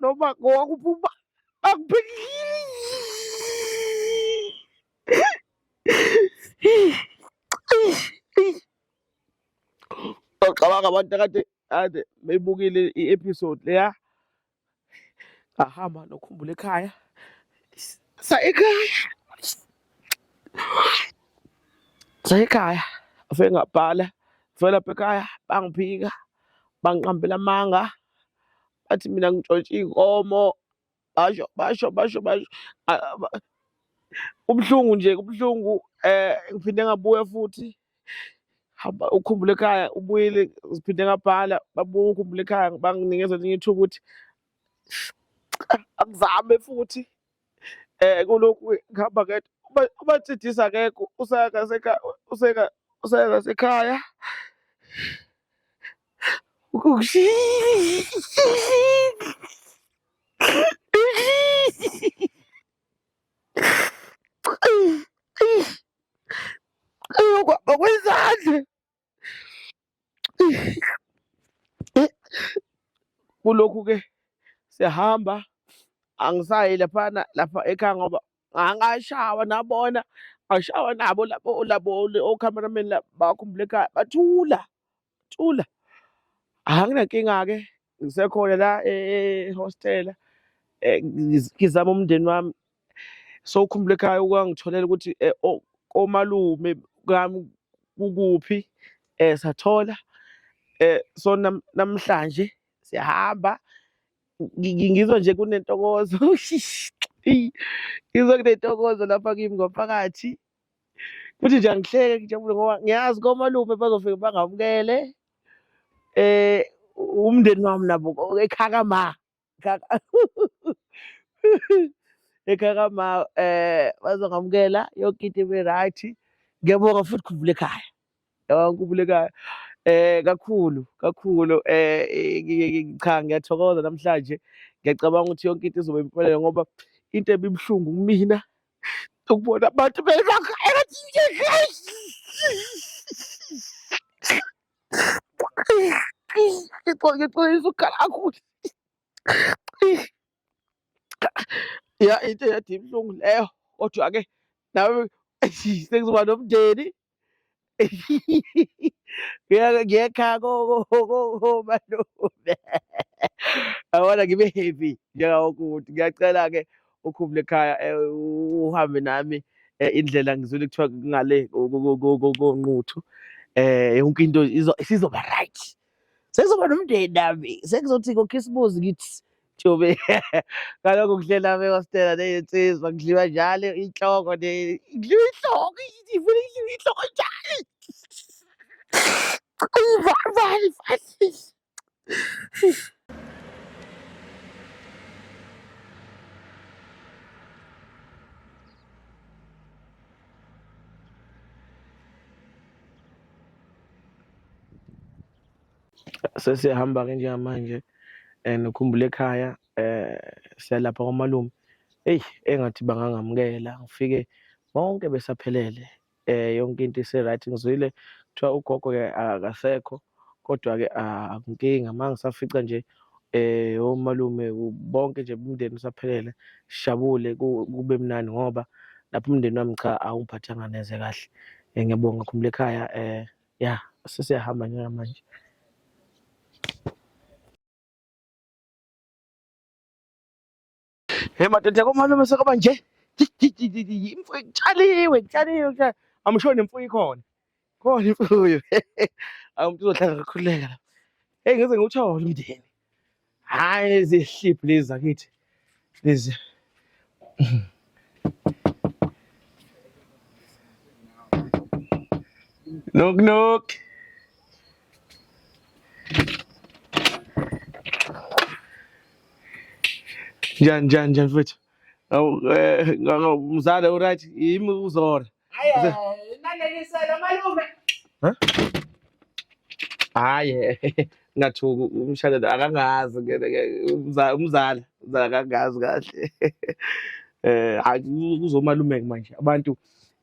noma ngowakuphuma akuphikile Ngicabanga abantu akade kade beyibukile i-episode leya ngahamba nokhumbula ekhaya sa ekhaya sa ekhaya afike ngabhala fela lapha ekhaya bangiphika bangiqambela amanga bathi mina ngitshontshe iy'nkomo basho basho basho basho Ah, ba- kubuhlungu nje kubuhlungu um ngiphinde ngabuya futhi hamba ukhumbule ekhaya ubuyile ngiphinde ngabhala babuye ukhumbule ekhaya banginikeza elinye ithuba ukuthi angizame futhi Eh kulokhu ngihamba ngedwa. Uma uma Ntshidisa akekho usaya ngasekhaya useka usaya ngasekhaya. Ayokwaba kwezandla. Kulokhu-ke siyahamba angisayi laphana lapha ekhaya ngoba angashawa nabona angishawa nabo labo labo o-cameraman labo bakhumbula ekhaya bathula thula anginankinga-ke ngisekhona la ehostela ngizama umndeni wami so ukhumbula ekhaya ukwangitholela ukuthi eh, o- omalume kami kukuphi um sathola um so nam- namhlanje siyahamba Ngi- ngi- ngizwa nje kunentokozo Eyi, ngizwa kunentokozo lapha kimi ngaphakathi futhi nje angihleke ngijabule ngoba ngiyazi komalume bazofike bangamukele um umndeni wami nabo ekhaka ma ekhaya kama um eh, bazongamukela yonke into ibe right ngiyabonga futhi khumbula ekhaya yabona khumbula ekhaya um kakhulu kakhulu um cha ngiyathokoza namhlanje ngiyacabanga ukuthi yonke into izobe impumelelo ngoba into ebibuhlungu kumina ukubona abantu belokhu engathi ngixolisa ukukhala kakhulu ya into eyade ibuhlungu leyo kodwa ke nawe sengizoba nomndeni ngiyekha komalume yabona ngibe heavy njengawonke umuntu ngiyacela-ke ukhumule ekhaya eh, uhambe nami eh, indlela ngizwile kuthiwa ngale konquthu eh yonke into sizoba right sekuzoba nomndeni nami sekuzothi ngokhisimuzi ngithi jobe ngalokho kuhlela me wastela neyinsizwa ngidliwa njalo inhloko ne ngidliwa inhloko ngifuna ngidliwa inhloko njalo ayivali vali vali sesiyahamba ke njengamanje and ukhumbule ekhaya eh siyalapha kwamalume eyi engathi bangangamukela ngifike bonke besaphelele eh yonke into ise right ngizwile kuthiwa ugogo ke akasekho kodwa ke akunkinga ah, mangisafica nje eh omalume bonke nje umndeni usaphelele sijabule kube mnandi ngoba lapho umndeni wami cha awungiphathanga neze kahle eh, ngiyabonga khumula ekhaya eh ya sesiyahamba njengamanje Hey madoda komalume sekaba nje. Imfuyo itshaliwe, itshaliwe, itshaliwe. Amsho nemfuyo ikhona. Khona imfuyo. Awumuntu uzohlala kakhululeka. Hey ngeze ngiwuthole umndeni. Hayi lezi hliphi lezi zakithi. Lezi. Knock knock. Njani njani njani mfethu? Awu eh mzala uright yimi uzora. Hayi nalelisela malume. Huh? Hayi ngathuka umshadela akangazi umzala umzala akangazi kahle. Eh hayi kuzomalume manje abantu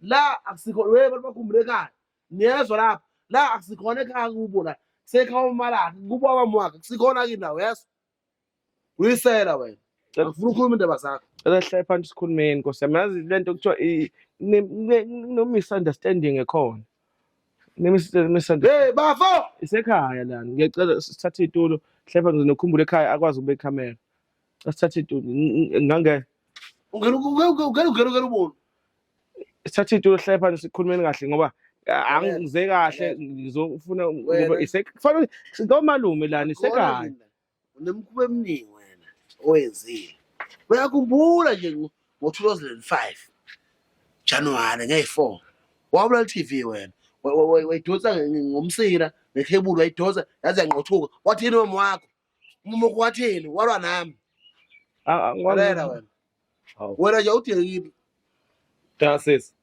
la akusikho we abantu bakhumbulekayo niyezwa lapho la akusikhona ekhaya kubo la kusekhaya umalakhe kubo abamwakhe kusikhona kini la uyezwa uyisela wena Cela ngifuna ukhuluma indaba zakho cela sihlale phansi sikhulumeni Nkosi yami. Yazi le nto kuthiwa i- ne- ne- no-misunderstanding ekhona. Ne-mis- misunderstanding. hey bafo Isekhaya lana. Ngiyacela sithathe itulo. Hlepa ngizokhumbula ekhaya akwazi ukubeka ikhamera. Sithathe itulo. Ngange Ungena ungena ungena ungena ungena ubona. sithathe itulo sihlale phansi sikhulumeni kahle ngoba ah, angizwe kahle ngizofuna ngoba Wena. isek kufanele ngomalume lana isekahle. Unemkhuba eminingi wena oyenzile. Uyakhumbula nje ngo- ngo-2005 January ngeyi-4 wabulala i-TV wena. Wa- wa- wa- Wayidonsa nge- nge- ngomsila ngekhebulu wayidonsa yaze yangqothuka. Wathini mama wakho? mumoko wathini walwa nami Ah, ah, ngwa- lalela wena Hawu. wena nje udekile Cha sisi.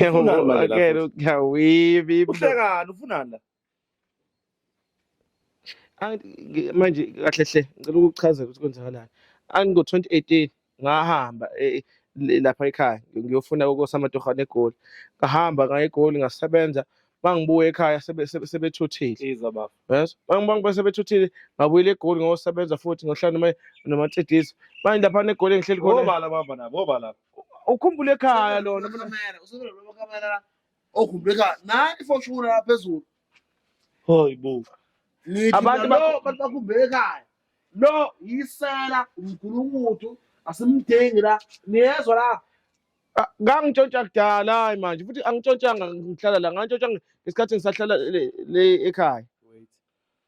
Ufunani manje la Akele futhi? uyawibi iblo. Uhlekani ufunani la? Angi- ngi- Manje kahle hle ngicela ukuchazela ukuthi kwenzakalani. Angi ngo 2018 ngahamba eh, le- lapha ekhaya ngiyofuna kokosamatoha negoli ngahamba ngaya egoli ngasebenza mangibuya ekhaya sebe- sebe- sebethuthile Iza bafo. yes mangibangibe sebethuthile ngabuyela egoli ngosebenza futhi ngohlala noma nomatsidisi manje lapha negoli engihleli khona Obala baba nabo, obala. ukhumbule ekhaya lona Kamera, usebenzela kamera. Okhumbuleka nani for sure phezulu. Hoy bo. Ngithi Abantu nalo bakho bantu bakhumbeke ekhaya. Lo yisela umgulukudu asimdingi la. Niyezwa la? Ah, ngangitshontsha kudala hayi manje futhi angitshontshanga ngihlala la ngantshontsha ngesikhathi ngisahlala le, le ekhaya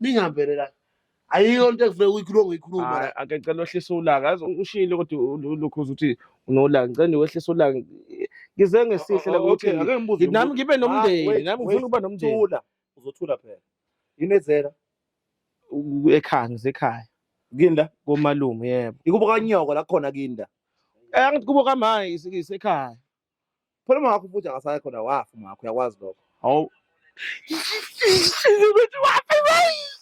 ningambele la ayikho into ekufuneka uyikhulume ngoyikhuluma Hayi, la ake ngicela wehlise ulaka yazi ushilo kodwa u- u- ulukhuza ukuthi unolaka ngicela nje wehlise ulaka ngize ngesihle la O- o- ukuthi okay, ake ngibuze nami umuntu. ngibe Ma, nomndeni wait, nami ngifuna wait, ukuba nomndeni Thula. Uzothula phela. Inezela. U- ekhaya ngisekhaya Kinda. komalume yebo Ikubo kanyoko la khona kinda. Eh, angithi kubo kamhayi isikisi ekhaya phela uma wakho futhi angasaya khona wafa uma wakho uyakwazi lokho hawu ukuthi wafa bayi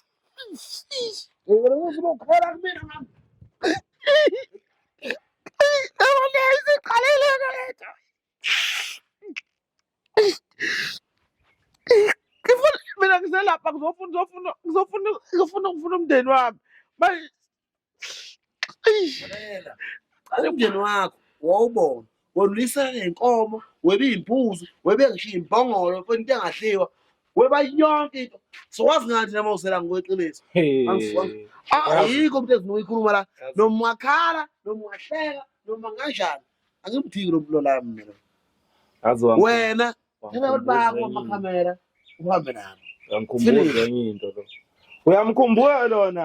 Ngibona ukuthi ukhona kumina mama. Yabona isiqalile lento. Ngifuna mina ngiselapha ngizofuna ngizofuna ngizofuna ngizofuna ukufuna umndeni wami. Manje umndeni wakho wawubona wonulisa ngenkomo webe iy'mbuzi webe ngisho iy'mbongolo fona into engadliwa weba yonke into sowazi ngathi nama usela ngokweqiniso ayikho umntu ezifuna uyikhuluma la noma wakhala noma wahleka noma nganjani angimdiki lo mlo lami mina wena thina abantu bakho amakhamera uhambe nabo uyamkhumbula lona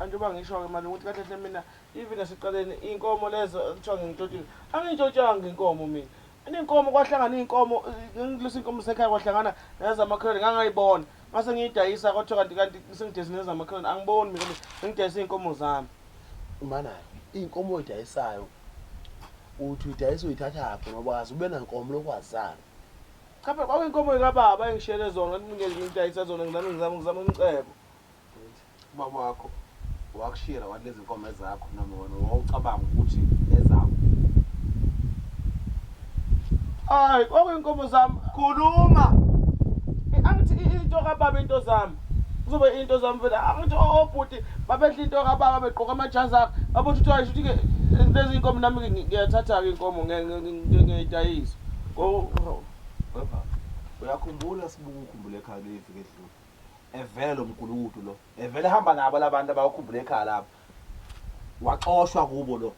anjengoba ngisho-ke mali ukuthi kahle hle mina even naseqaleni iy'nkomo lezo kuthiwa ngingitshotshile angiyitshotshange inkomo mina Inkomo kwahlangana inkomo ngilisa inkomo sekhaya kwahlangana nezamakhelwane ngangayibona mase ngiyidayisa kwathiwa kanti kanti sengidayisa nezamakhelwane angiboni mina ngidayisa iy'nkomo zami mana iy'nkomo oy'dayisayo uthi uyidayisa uyithathaphi ngoba wazi ube nankomo lokwazana cha phela kwakuyinkomo yikababa engishiyele zona ngidayisa zona ngizame ngizame ngizame umcebo Ubaba wakho wakushiyela wani lezinkomo ezakho noma wena wawucabanga ukuthi ezakho? Hayi, kwakuyinkomo zami. Khuluma. Angithi into kababa into zami. Kuzobe into zami vele. Angithi obhuti oh, oh, babedla into kababa begqoka amajazi akhe. Babona ukuthi hayi ukuthi ke lezi inkomo nami ngiyathatha ke inkomo ngiyidayisa. Uyakhumbula sibuku ukhumbule ekhaya lifike edlule. Evele lo mgulukudu lo. Evele ehamba nabo labantu abawakhumbula ekhaya lapho. Waxoshwa kubo lo.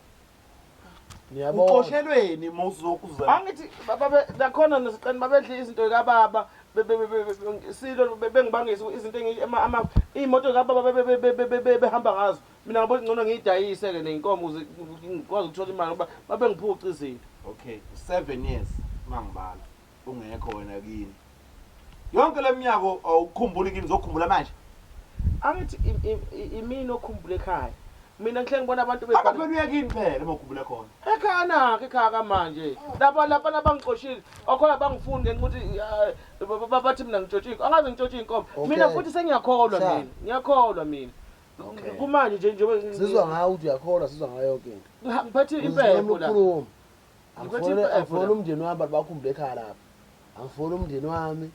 Niyabona. Uxoshelweni mawuzokuza. Angithi baba nakhona nosiqani babedla izinto kababa silo bengibangisa izinto ama imoto kababa behamba ngazo. Mina ngabo ngcono ngiyidayise ke nenkomo ukuze ngikwazi ukuthola imali ngoba babengiphuca izinto. Okay, 7 years mangibala. ungekho wena kini yonke leminyako awukhumbuli kini zokhumbula manje angithi imini okhumbula ekhaya mina ngihle ngibona abantu bebaphela kini phela uma ukhumbula khona ekhaya nakhe ekhaya kamanje lapha lapha nabangixoshile okhona bangifuni ngenxa ukuthi eh, bathi mina ngitshotshike angazi ngitshotshike inkomo mina futhi sengiyakholwa mina ngiyakholwa mina kumanje nje njengoba sizwa ngayo ukuthi uyakholwa sizwa ngayo yonke into ngiphethe impepho la angifoli umndeni wami bantu bakho umntu ekhaya lapha angifoli umndeni wami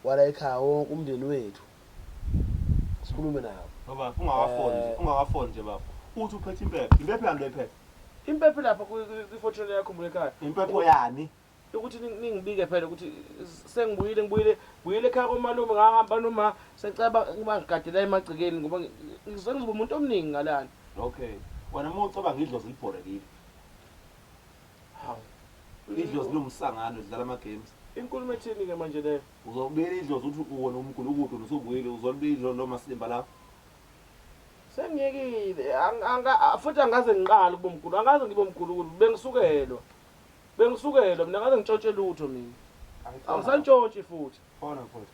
wala ekhaya wonke umndeni wethu sikhulume nawo baba ungakafoni nje eh. ungakafoni nje baba uthi uphethe impepho impepho yami lephethe impepho lapha kwi-fortune yakho umntu ekhaya impepho yani ukuthi ningibike phela ukuthi sengibuyile ngibuyile buyile ekhaya komalume ngahamba noma seceba ngibagadela emagcikeni ngoba ngizokuba umuntu omningi ngalana okay wena uma ucabanga idlozi libhorekile Hawu. Idlozi liwumsangano lidlala ama games. Inkulumo ethini ke manje leyo? Uzobuyela idlozi uthi uwona umgulukudu wena usubuyile uzolibuyela idlozi lo masimba lawo. Sengiyekile ang- anga- a- futhi angaze ngiqale ukuba umgulu angaze ngibe umgulukudu bengisukelwa bengisukelwa mina angaze ngitshontshe lutho mina angisantshontshe futhi Khona mfowethu.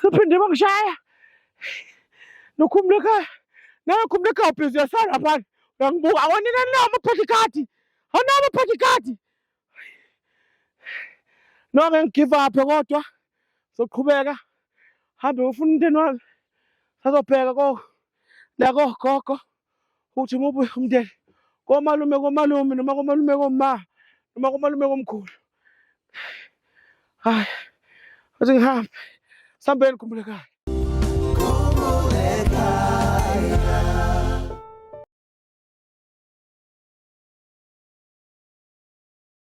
Sephinde bangishaya nokhumula ekhaya nawe khumula ekhaya bhizi uyasala phana uyangibuka awonina nawo amaphatha ikhadi awunawo amaphatha ikhadi no ngeke ngigive aphe kodwa soqhubeka hambe ufuna umnteni wami sazobheka ko lako gogo ukuthi umuphi umndeni komalume komalume noma komalume koma noma komalume komkhulu hayi athi ngihambe sambeni khumbulekayo